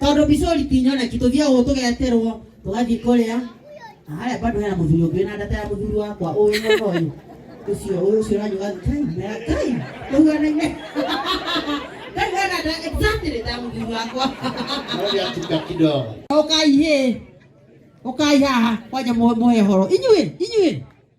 tondu bicori ti nyoneki tuthie ugu tugeterwo tugathi kuria na haria bado hena muthuri ungi na ndata ya muthuri wakwa uyu mwena uyu ucio uyu ucio ranyuga kai mera kai tuhuanaine kai wena nda exactly ta muthuri wakwa Naomba atuka kidogo. ukai he ukai haha kwanja muhe horo inyuĩ inyuĩ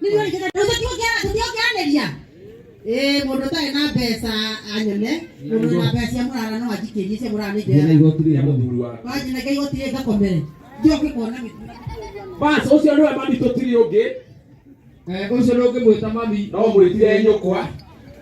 Milioni kĩgana ũtũtio kĩana tũtio kĩanĩria. Ĩĩ mũndũ ũtarĩ na mbeca anyone, mũndũ wĩna mbeca cia mũrara no anjikĩrie cia mũrara nĩ Ndĩna njega. igoti rĩa mũthuri wa. Wanjinenge igoti rĩ ngakomere. Njoke kuona gĩtuna. Bas, ũcio nĩwe mami tũtirĩ ũngĩ. Eh, ũcio ndũngĩmwĩta mami. No mwĩtire nyũkwa.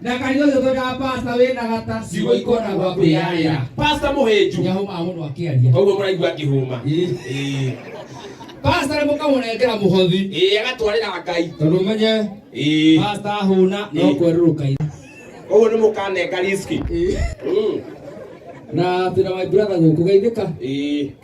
na kanitha ũcio twekaga pasta wĩ na gata ciugo ikona gwa kwĩyarĩra pasta mũhĩnju nĩahũmaga mũno akĩaria koguo mũraigua akĩhũma Ĩĩ. Ĩĩ. pasta nĩ mũkamũnengera mũhothi Ĩĩ, agatwarĩra ngai tondũ ũmenye Ĩĩ. pasta ahũna no Ĩĩ. kwerũrũka ira koguo nĩ mũkanenga riski Ĩĩ. Mm. na twĩna my brother gũkũ geithĩka Ĩĩ.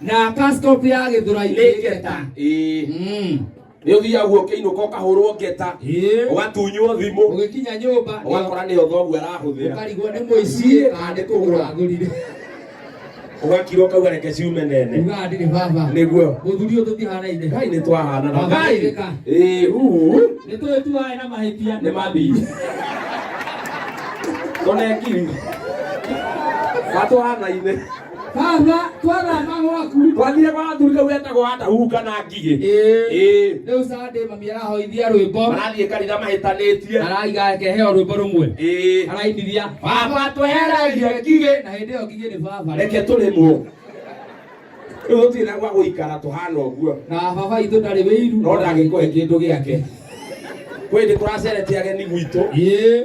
na kaskopu ya gĩthũrai nĩ ngeta Ĩĩ. Mm. nĩ ũthiaga guo kĩinũka ũkahũrwo ngeta Ĩĩ. ũgatunywo thimũ ũgĩkinya nyũmba nĩ- ũgakora nĩyo thoguo arahũthĩra ũkarigwo nĩ mũici kana nĩ kũgũra agũrire ũgakira ũkauga reke ciume nene ugaga ndirĩ baba nĩguo mũthuri ũyũ tũtihanaine ngai nĩ twahanana Baba ngai Erika. Ĩĩ, uu. nĩ twĩtuaĩ na mahĩtia nĩ mathii tũnekiri gatũhanaine Baba twara mama waku. Twathire kwa athuri kau etagwo Adahu kana ngigĩ. Ĩĩ. Rĩu Sunday mami arahoithia rwĩmbo. Arathiĩ kanitha mahĩtanĩtie. Araiga akeheo rwĩmbo rũmwe. Ĩĩ. Arainithia. Baba tweheragie ngigĩ. Na hĩndĩ ĩyo ngigĩ nĩ baba. Reke tũrĩmwo. Rĩu gũtirĩ na gwa gũikara tũhana ũguo. Na baba itũ ndarĩ wĩiru. No ndagĩkũhe kĩndũ gĩake. Kwĩndĩ tũracerete ageni gwitũ. Ĩĩ.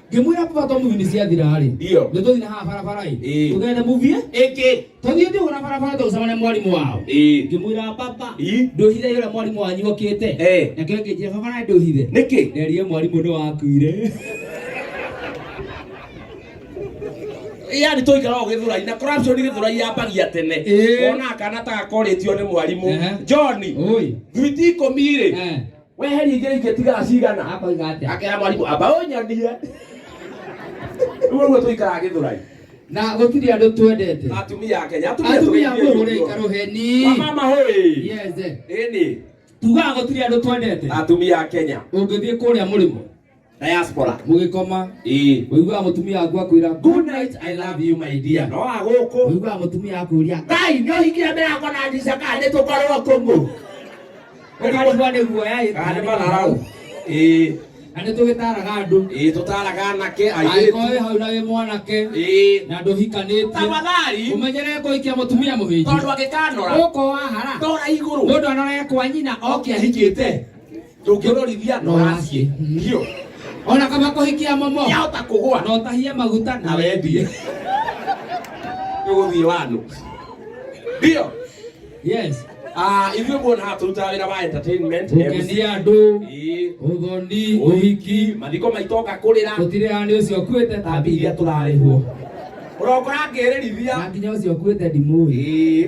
ngĩmwĩra baba to movie nĩ ciathira-rĩ Ndio. nĩ tũthiĩ na haha barabara-ĩ Ĩĩ. tũgende movie Ĩkĩ. tũthiĩ ndigũ na barabara tũgũcemania mwarimũ wao Ĩĩ. ngĩmwĩra baba Ii. ndũhithe yũrĩa mwarimũ wanyu okĩte Eh. nake ngĩnjĩra baba na ndũhithe Nĩkĩ? nderie mwarimũ nĩ wakuire yani tũikara o gĩthũrai na corruption gĩthũrai yambagia tene Ĩĩ. ona kana ta gakorĩtio nĩ mwarimũ Ehe. john Oi. thwiti ikũmi rĩ Eh. weheria ingĩ ingĩtiga cigana akoiga atĩa akera mwarimũ amba ũnyendie rĩu ũguo tũikaraga gĩthũrai na gũtirĩ andũ twendete atumia a kenya atumia atumia tũgeithie mũhũre ũguo. karũheni wamama hoi yeze ĩni tugaga gũtirĩ andũ twendete atumia a kenya ũngĩthiĩ kũrĩa mũrĩmo diaspora mugikoma ii wiguaga mutumia waku akwira good night i love you my dear no aguku wiguaga mutumia akuria ngai nä å hingire mbere yakwa na ndica kana nä tå korwo kå ngå ukarigwa nä guoya ĩ kana nä mararau ĩĩ na nä tå gä taraga andå ĩĩ tå taraga anake airĩtu angĩkorwo wĩ hau na wĩ mwanake ĩĩ na ndũhikanĩtie tafadhali ũmenyere kũikia mũtumia mũhĩnji tondå angä kanora å ko wahara ndora igå rå må ndå anorekwa nyina oke ahikĩte ndũngĩrorithia no aciĩ biũ ona kama kũhikia momo yahota kũgũa no tahie maguta na wendie nĩgũthiĩ wanũ ndio yes Ah, ithuĩ muona haha tũrutaga wĩra wa entertainment MC. gũkenia andũ Ĩĩ, ũthoni ũhiki mathiko maitũ oka kũrĩra gũtirĩ hanĩ ũcio ũkuĩte ta tambi iria tũrarĩhwo ũrokora ngĩrĩrithia na nginya ũcio ũkuĩte ndimũĩ Ĩĩ.